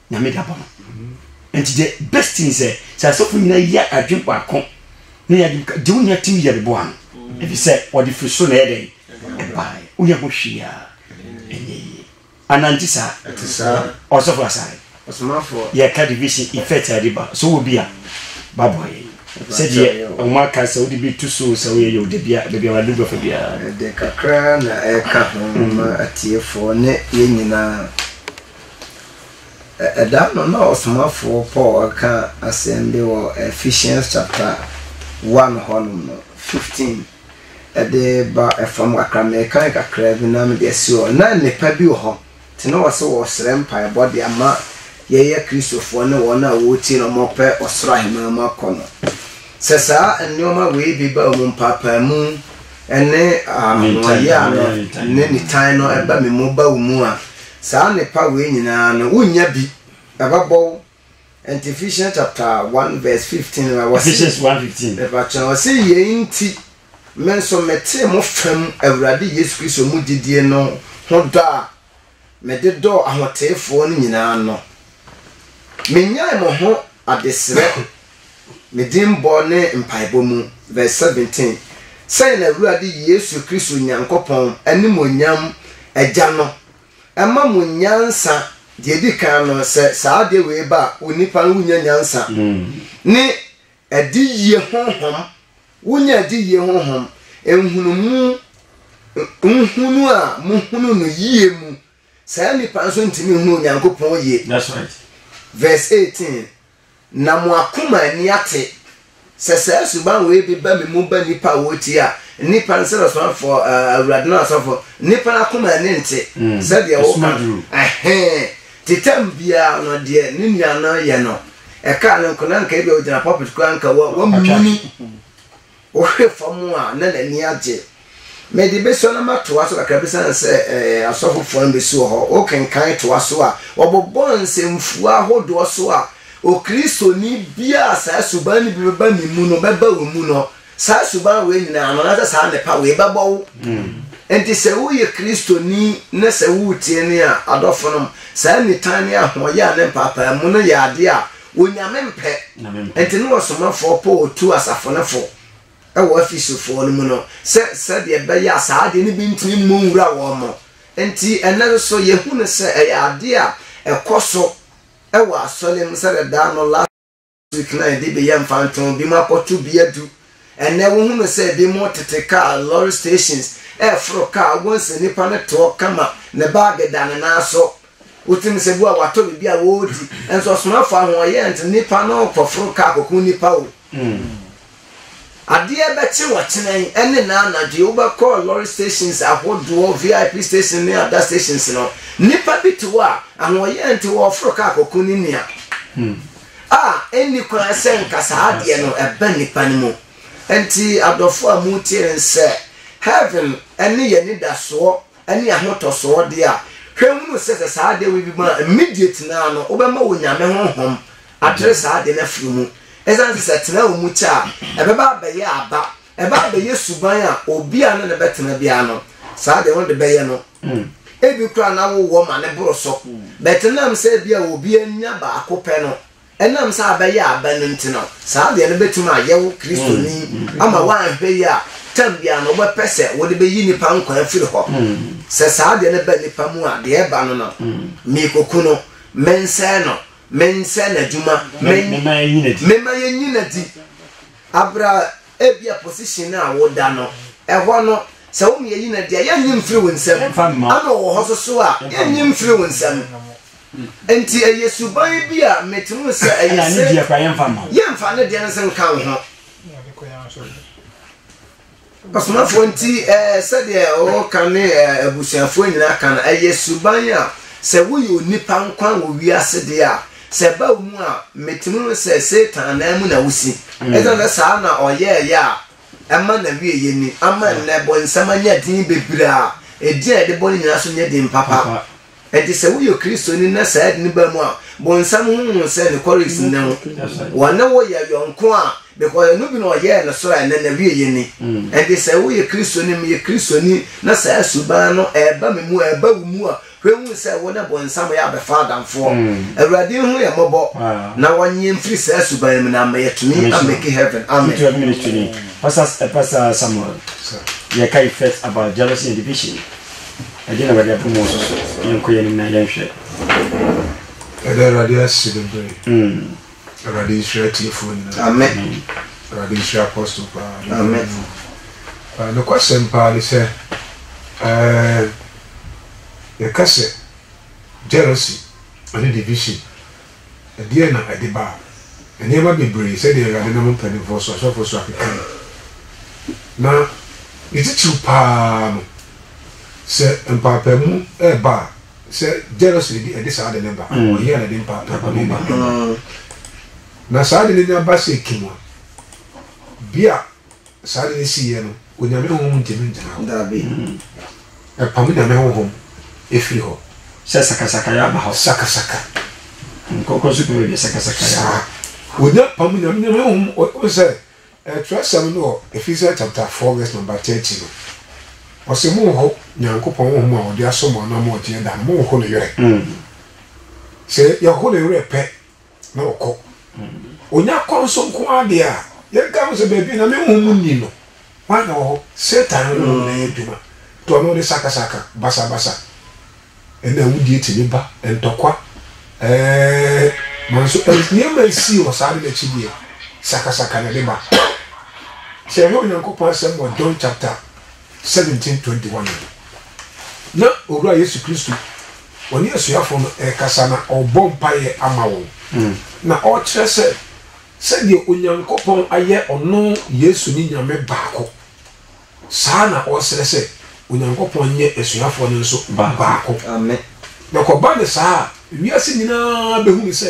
nyame da bɔ no nti the best thing sɛ sɛ asɔfo nyina yɛ adwen baako ne yɛ adwen de wo nua tim yɛ bɛbɔ ano ɛfi sɛ ɔde firi so na ɛyɛ dɛn ɛbaeɛ woyɛ ho hwee a ɛnyɛ yie anante saa ɛte saa ɔsɔfo asare ɔsomafoɔ yɛka division effect a ɛde ba so wɔ bi a babɔ yɛ sɛdeɛ ɔmo aka sɛ wode bi to so sɛ woyɛ yɛ wo dabi a baabi a wade bɛfa biara ɛde kakra na ɛka ho ma atiefoɔ ne yɛ nyinaa Da no nna ɔsomafo Paul reka asɛm bi wɔ Ephesians chapter one hɔnom no, fifteen de ba fam kakra, merekan kakra bi na mede asi hɔ. Nna nnepa bi wɔ hɔ, ntsi nna ɔwɔ sɛ wɔserɛ mpaabɔ dze ama yɛyɛ Christofoɔ no hɔn a woritsie na wɔrepɛ ɔsor ahenman mu akɔ no. Sɛ saa nneɛma wei bi ba mu, mpaapaamu ne ahoɔyaa no ne nitan no ba me mu ba wo mu a, Saa nnepa wei nyinaa no, wonnya bi, ɛbɛbɔ wo. Ɛnti Ephesians chapter one verse fifteen no, ɔse. Ephesians one fifteen. Mepakyɛw, ɔse, Yei nti, me nso metee mo fa mu Awurade Yesu Kristo mu gyidie no ho dɔ a mede dɔɔ ahoteefoɔ no nyinaa no, mennyaee mo ho adesrɛ, Me Dimmɔ ne Mpaebɔ Mu, Verse 17, Sɛn na Awurade Yesu Kristo Nyankopɔn, Animuonyam Agya no, ma mo nyansa? Deɛ ɛdi kan no, sɛ saa adeɛ wei ba a, onipa no, wonya nyansa ne adiyie honhom, wonya adiyie honhom, nhunumu, nhunu a mohunu no yie mu Saa nnipa nso ntumi nhunu Onyankopɔn yie. That's right. Verse eighteen, Na mo akoma ani ate, sɛ saa suban wei bi ba me mu ba nnipa a wɔtia nnipa nsɛ no somafoɔ, eh, Awurade no asɔfoɔ, nnipa no akoma ani nte Mm. sɛdeɛ Ɛsum woka aduru. no. Ɛhee. Titam biara no, deɛ ne nua no yɛ no, ɛkaa no nko na nka ebia ɔgyina pulpit koraa nka wa- Atwa. wamuni. Ɔhwɛ fam a, na n'ani agye. Mede bɛsua na matoa so kakra bi sane sɛ asɔfofoɔ no bɛsi wɔ hɔ. Wokenkan toa so a, wɔbobɔ nsɛmfua ahodoɔ so a Okristoni biara a saa suban no bi bɛba ne mu no bɛba wo mu no. Saa suban wei nyinaa no, na sɛ saa nnepa wei bɛbɔ wo. Enti sɛ woyɛ Kristoni na sɛ woretie no a, adɔfonom, saa nitan ne ahoɔyɛ a ne mpaapaamu no yɛ adeɛ a Onyame mpɛ nti ne ɔsomafoɔ Paul tuu asafo no fo wɔ Efeso foɔ no mu no sɛ sɛdeɛ ɛbɛyɛ a saa adeɛ no bi ntumi mmɔ nwura wɔn mo nti ɛnnɛ nso yɛhu no sɛ ɛyɛ adeɛ a ɛkɔ so wɔ asɔre mu sɛdeɛ daa no last week no a yɛde beyɛ mfantoo bi mu akɔto bia du Ɛnnɛ wohu no sɛ binom tete kaa lorry stations reforo kaa, wobɛhu sɛ nipa no te hɔ kama, ne bag da ne nan so, wotim sɛ bi a watɔ biribi a ɔredi, nso ɔsomafo ahoɔyɛ nti nipa no rekɔforo kaa akɔku nnipa o. Adeɛ bɛkye wɔkyena yi ne nnɛ anadwo yi, wobɛkɔ lorry stations ahodoɔ, VIP stations ne ada stations no, nipa bi te hɔ a ahoɔyɛ nti ɔreforo kaa akɔku ne nua. A, ɛnni kwan sɛ nka saa adeɛ no ɛba nnipa no mu. Ɛnti, adɔfoɔ a moretie no nsɛ, Heaven ne yɛn anidasoɔ ne ahotɔsoɔ deɛ a, hwɛ hunu sɛ sɛ saa adeɛ wei bi ba a, immediate no ara no, wobɛma wo Nyame Honhom atere saa adeɛ no afiri wo mu. Ɛsiane sɛ sɛ ɛtena wo mu kyɛ a, ɛbɛba abɛyɛ aba. Ɛba abɛyɛ suban a obi a ne no bɛtena biara no, saa deɛ ɔno de bɛyɛ no, ebi koraa na wowɔ ma no boro so. But ɛnam sɛ ebi a obi anya baako pɛ no, ɛnam sɛ abɛyɛ aba no nti no, saa deɛ no bɛtumi ayɛ wo Kristoni ama woanhwɛ yie a, tam biara no wobɛpɛ sɛ wode bɛyi nnipa nkwa afiri hɔ. Sɛ saa deɛ no ba nnipa mu a, deɛ ɛba no no, merekɔku no, mensɛe no, mensɛe n'adwuma, men, memma yɛnyi no adi. Aber a ebia position no a woda no hɔ no, sɛ wo meyɛ yi na deɛ yɛnnye mfiri wo nsam, ɛna ɔwɔ hɔ so so a yɛnnye mfiri wo nsam. Nti ɛyɛ suban bi a mete mu sɛ ɛyɛ se yɛmfa ne deɛ no se nka wo ho. Ɔsomafoɔ nti sɛdeɛ ɔka ne abusuafoɔ nyinaa ka no, ɛyɛ suban a sɛ woyɛ onipa nko a wɔ wiase deɛ a, sɛ ɛba wo mu a, mɛtumi ho sɛ Satan anan mu na wosi. Mm. Ɛsɛ sɛ saa na ɔyɛɛyɛ a ɛma na wieyɛ ni. Ama nnɛ bɔnsam anya din bebree a ɛdin a yɛde bɔ no nyinaa so nyɛ din papa. Enti sɛ woyɛ Kristoni na saa ade no ba mu a, bonsam ho hu sɛ ne chorus nnɛ ho. Wɔne wo yɛ yɔnko a, because ɛno bi na ɔyɛɛ no soro a ɛnɛ n'awieɛ ni. Enti sɛ woyɛ Kristoni, meyɛ Kristoni, na saa suban no ɛreba me mu a, ɛreba wo mu a, hwɛ hu sɛ wo ne bonsam yɛ abɛfa adamfoɔ. Awurade nhu yɛn mmɔbɔ na wɔnye yɛn mfiri saa suban no mu na ama yɛatumi amake heaven. Amen. Future ministry ni. Pastor Samuel, yɛka effect about jealousy and division Ɛdeɛ na Awurade abɔ mu soso? Yɛnkɔ yɛn anim na yɛnhwɛ. Yɛda Awurade ase bebree. Awurade nhyira atiefoɔ nyinaa. Amen. Awurade nhyira Apostle paa. Amen. Uh, Nokwasɛm paa ne sɛ uh, yɛka sɛ jealousy ne division Ɛdeɛn na ɛde baa? Nneɛma bebree, sɛdeɛ Awurade nam mpanimfoɔ so, asɔfoɔ so akekaeɛ. Na ne titiriw pa ara no, sɛ mpaapaemu reba a, sɛ jealousy bi ɛde saa ade no ba a, ɔyea na ɛde mpaapaemu ne nneɛma no ba. Na saa ade no nya ba sɛ kim a, bi a Saa ade no siiɛ no, Onyame Honhom ntumi ngyina hɔ. Dabi. Ɛpam Nyame Honhom firi hɔ. Sɛ sakasakayɛ aba hɔ. Sakasaka. Nkɔkɔ nso pɛ baabi a sakasakayɛ aba. Saa. Onya pam Nyame Nyame Honhom, wohu sɛ, Twerɛsɛm no wɔ Ephesians chapter four verse number thirty no, ɔse, Monho Nyankopɔn Honhom a ɔde asɔ mo anaa mo ɔgyeɛ da no, monho ne werɛ. Sɛ yɛho ne werɛ pɛ na ɔkɔ. Ɔnya kɔn so nko ara deɛ a, yɛnka ho sɛ baabi na me honhom nni no, hwan na ɔwɔ hɔ? Satan honhom na ɛyɛ adwuma, nti ɔno ɔde sakasaka, basabasa, ɛna awudie tumi ba, ntɔkwa, ɛɛɛ, manso, nneɛma a ɛsii wɔ saa ade no akyi deɛ, sakasaka na ɛde ba. Sɛ yɛhwɛ Onyankopɔn Asɛm wɔ John chapter. 1721 no, na Owura Yesu Kristo ɔne asuafo no rekasa na ɔrebɔ mpaeɛ ama wɔn, na ɔrekyerɛ sɛ sɛdeɛ Onyankopɔn ayɛ ɔno Yesu ne Nyame baako, saa na ɔresrɛ sɛ Onyankopɔn nyɛ asuafoɔ no nso baako. Na kɔba no saa a, wiase nyinaa bɛhunu sɛ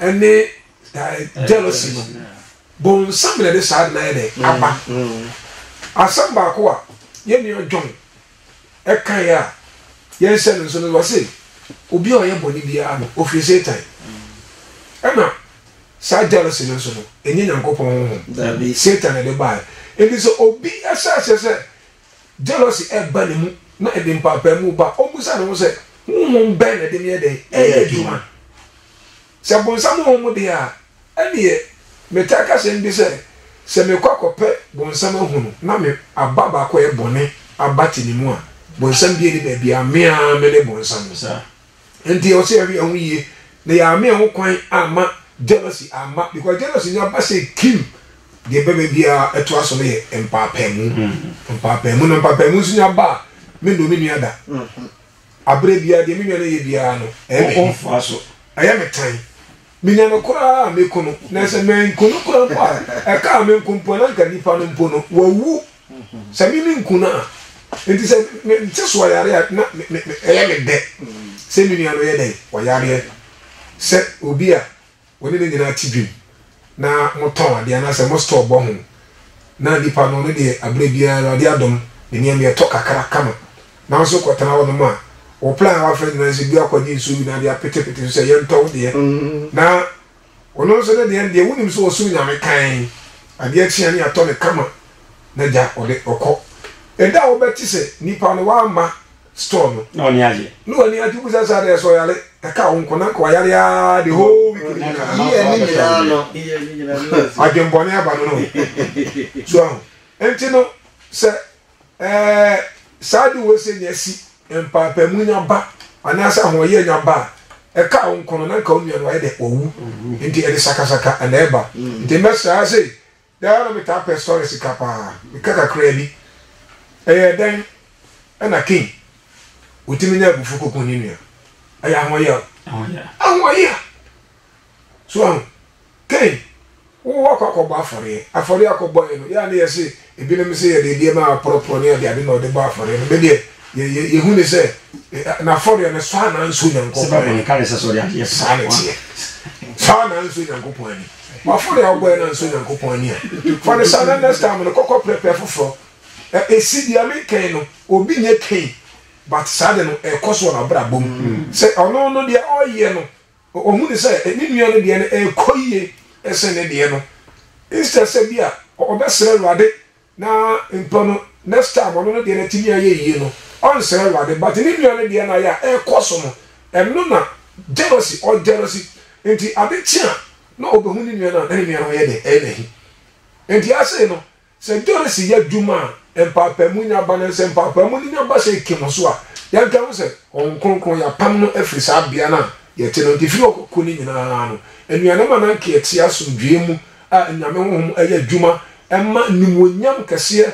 ne jealousy no bonsam na ɛde saa de no ayɛ dɛ aba asɛm baako a yɛn nua john ɛka yɛ a yɛnhyɛ no nso no wɔse obi a ɔyɛ bɔne biara no ofiri satan ɛna saa jealousy no nso no ɛnyɛ nyankopɔn honhom satan na ɛde baeɛ ɛnti sɛ obi ɛhyɛ aseɛ sɛ Jealousy ba ne mu na ɛde mpaapaemu ba. Ommisa ne ho sɛ, 'Honhom bɛn na ɛde me yɛ dɛn? Ɛyɛ adwuma? Sɛ bonsam honhom de a, ɛnneɛ metaa ka asɛm bi sɛ, Sɛ mekɔ akɔpɛ bonsam ahu no na me aba baako a ɛyɛ bɔne abate ne mu a, bonsam biara nni baabiara, me ara me ne bonsam. Enti ɛwɔ sɛ yɛhwɛ yɛn ho yie na yɛama yɛn ho kwan amma jealousy amma because jealousy no aba sɛ kim deɛ bɛbɛ biara ɛtoa so no yɛ mpaapaamu mm-hmm. mpaapaamu na mpaapaamu nso nya aba a me nnɔ me nua da mm-hmm. aberɛ biara deɛ me nua no yɛ biara no ɛyɛ me ɛyɛ me tan Menya no koraa a, meko no, na sɛ manku no koraa mpo a, ɛkaa me nko mpo a, na anka nipa no mpo no, wawu, sɛ me menku no a. Enti sɛ mente so ayare a, na ɛyɛ me dɛ sɛ me nua no yɛ dɛn? Ɔyareɛ. Sɛ obi a wo ne no nyinaa te dwam na motɔn adeɛ anaasɛ mo store bɔ ho, na nipa no, ɔno deɛ, aberɛ biara, Awurade adom, ne nneɛma yɛ tɔ kakra kama. Nanso kɔtena hɔnom a, wo plan a woafrɛ nyinaa ne sɛ bi akɔgye nsuo bi na de apetepete so sɛ yɛntɔ wo deɛ. Na ɔno nso ne deɛ no deɛ, wonim sɛ ɔsoro Nyame kann, adeɛ kye a ne yɛatɔ no kama na gya ɔde ɔkɔ. Ɛda a wobɛte sɛ nipa no wamma store no. Na w'ani agye. Na w'ani agye, wobisa sɛ adɛn, sɛ ɔyare, ɛka wo nko, na anka wayare aa the whole week no nyinaa. Year no nyinaa no. Adwenbɔne aba no no. So ahu? Nti no, sɛ. Ɛɛ, saa ade wei sɛ nya si, mpaapaemu nya ba, anaasɛ ahoɔyɛ nya ba a, ɛkaa wo nko no, na nka wo nua no wayɛ dɛ, wawu. Nti ɛde sakasaka na ɛba. Nti mmɛsraa sei, daa na metaa pɛ sɔre sika paa. Meka kakraa bi. Ɛyɛɛ dɛn? Ɛna King, ɔtumi nya abufuo kɔku ne nua. Ɛyɛ ahoɔyɛ o. Ahoɔyɛ. Ahoɔyɛ a. So ahu? Pɛn, Wo wɔ kɔ akɔbɔ afɔreɛ. Afɔreɛ a kɔbɔeɛ no, yɛ a ne yɛse ebinom se yɛde nneɛma a wɔaporɔporɔ ne adeade na wɔde bɔ afɔreɛ no, me deɛ yɛ yɛ hu ne sɛ n'afɔreɛ no sɔ anaa nsɔ Onyankopɔn ani. Saa ne teɛ. Sɔ anaa nsɔ Onyankopɔn ani. W'afɔreɛ a wobɔeɛ no ansɔ Onyankopɔn ani a, fa no saa na next time no kɔ kɔ prɛprɛ foforɔ. Ɛ esi deɛ meka yi no, obi nyɛ Cain but saa ade no ɛrekɔ so wɔ n'abrabɔ mu. Sɛ ɔno no deɛ ɔreyɛ no Ohunii sɛ ne nua no deɛ no rekɔ yie sen ne deɛ no. Instead sɛ bi a ɔbɛsrɛ Awurade na mpo no next time ɔno no deɛ no atumi ayɛ yie no, ɔnsrɛ Awurade but ne nua no deɛ no ayɛ a ɛrekɔ so no, ɛno na jealousy, ɔjealousy nti ade kye a na ɔbɛhu ne nua no a na ne nua no ho yɛ den, ɛyɛ no ahi. Nti afei no Sɛ Doris yɛ adwuma a mpaapaemu nya ba no, sɛ mpaapaemu no nya ba sɛ Kim nso a, yɛnka ho sɛ Honhom Kronkron, yɛapam no afiri saa bea no a yɛte no. Enti firi ɔkɔkɔ no nyinaa no, anuanom a na anka yɛte asomdwoeɛ mu a Nyame Honhom yɛ adwuma ma animuonyam kɛseɛ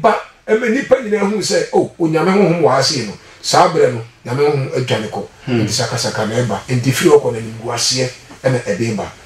ba ma nnipa nyinaa hunu sɛ, o, Onyame Honhom wɔ ha sei no, saa berɛ no Nyame Honhom dwane kɔ. Enti sakasaka na ɛba. Enti firi ɔkɔ no animguaseɛ na ɛde ba.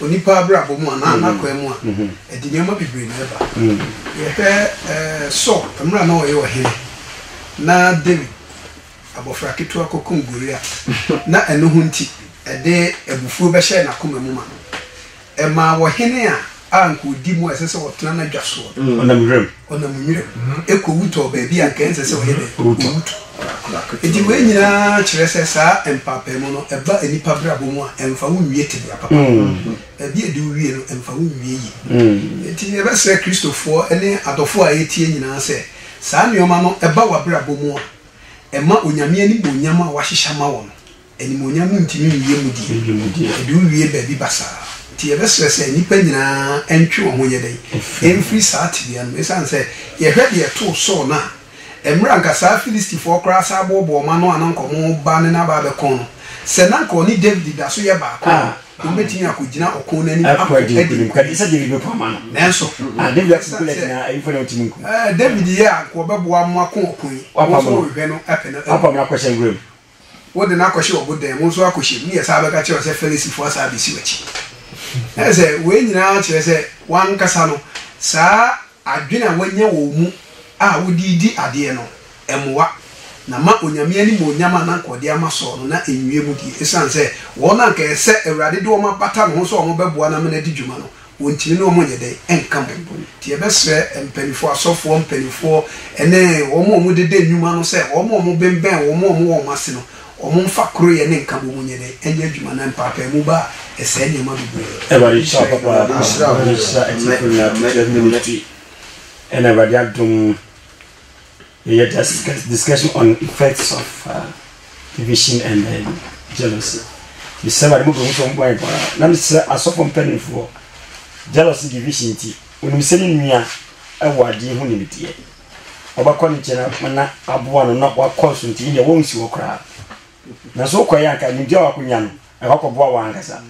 onipa abrabɔ mu anaa n'akwaa mu a, ɛde nneɛma bebree na ɛba. Yɛhwɛ Saul, mmerɛ a na ɔyɛ ɔhene, na Dawid, abɔfra ketewa kɔkum Goliat, na ɛno ho nti, ɛde abufuo bɛhyɛɛ n'akoma mu ma ɛmaa ɔhene a a anka odi mu a ɛsɛ sɛ ɔtena n'adwa soɔ no. Ɔnam nwiram. Ɔnam nwiram. Ɛkɔwu tɔ baabi a anka ɛnsɛ sɛ ɔyɛ dɛn? Ɔwu tɔ. Enti wei nyinaa kyerɛ sɛ saa mpaapaemu no, ɛba nnipa abrabɔ mu a, ɛmfa wo nwie tebea papa. Baabi a ɛde wo wie no, ɛmfa wo nwie yie. Enti yɛbɛsrɛ Kristofoɔ ne adɔfoɔ a ɛretie nyinaa sɛ, saa nneɛma no ba w'abrabɔ mu a, ɛma Onyame animuonyam a wahyehyɛ ama wo no, Animuonyam ntumi nwie mu die. Ɛde owie baabi basaa. Enti yɛbɛsrɛ sɛ nnipa nyinaa ntwe wɔn ho nyɛ dɛn? Mfiri saa tebea no mu. Esiane sɛ yɛhwɛ deɛ ɛtoo Saul no a, mmerɛ a anka saa Filistifoɔ koraa san boɔboɔ wɔn ano a na anka wɔreba ne no aba abɛko no, sɛ na anka ɔne Dawid da so yɛ baako a, wɔbɛtumi akɔgyina ɔko no anim ako adi nkonim. Nanso, esiane sɛ Dawid yɛ a anka ɔbɛboa mo ako ɔko yi, wɔn nso wɔhwehwɛ no pɛ no awu. Wode no akɔhyɛ wɔn dan mu nso akɔhyɛ mu, ne yɛsan bɛka kyerɛ wo sɛ Fariseefoɔ asan abɛsi w'akyi. Na kyerɛ sɛ, wei nyinaa kyerɛ sɛ w'ankasa no, saa adwene a woanya wɔ wo mu a wode redi adeɛ no, ɛmmoa. Na ma Onyame animuonyam a na anka ɔde ama Saul no, na ɛnwie mu die, ɛsiane sɛ wɔn a anka ɛsɛ sɛ Awurade de wɔn abata ne ho sɛ wɔbɛboa no ama no adi dwuma no, wɔntumi ne wɔn nyɛ dɛn nka mo ho. Nti yɛbɛsrɛ mpaninfoɔ, asɔfoɔ mpaninfoɔ ne wɔn a wɔdeda nnwuma no sɛ wɔn a wɔbemmɛn wɔn a wɔwɔ wɔn ase no, wɔmfa koroyɛ ne nkabom nyɛ dɛn nyɛ adwuma na mpaapaemu ba a ɛsɛe nneɛma bebree. Awurade nhyira wo papaapa, Awurade nhyira atiefo nyinaa, Tete Amen, Amen. Ministry, ɛna Awurade adom. Yɛyɛ just discussion on effects of uh, division and then jealousy. Mesrɛ ma de mobɛhu sɛ ɔmbɔ yɛ bɔra na mesrɛ asɔfo mpanimfoɔ jealousy division nti onim sɛ ne nua ɛwɔ adeɛ ho nimdeɛ ɔbɛkɔ ne nkyɛn na aboa no na wakɔ so nti deɛ wɔnsi hɔ koraa Na sɛ wokɔyɛ a, anka nimdeɛ a wakonya no, anka wakɔboa wɔn ankasa.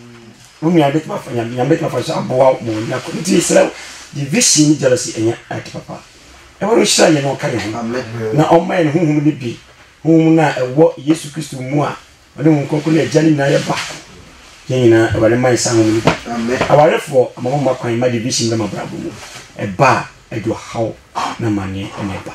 Wo nua bɛtumi afa nyame, nyame bɛtumi afa so aboa wo ma wanya kɔ. Nti mesrɛ wo, division ne jealousy ɛnyɛ ade papa. Awurade nhyira yɛn na ɔka yɛn ho, na ɔmma yɛn honhom no bi, honhom no a ɛwɔ Yesu Kristo mu a ɔne honhom kronkron ne agya no nyinaa yɛ baako. Yɛn nyinaa, Awurade mma yɛn saa honhom no bi. Awarefoɔ, ama mo mma kwan ma division bɛ mo abrabɔ mu. Ɛba a, ɛde ɔhaw na amanneɛ na ɛba.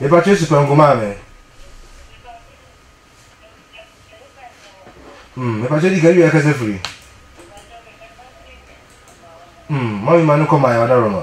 Mepa kyɛw si pɛnko maa me. Hmm, mepa kyɛw di ka wie akasa firi. Hmm, mami ma no kɔ maa yɛ ɔdarɔ ma.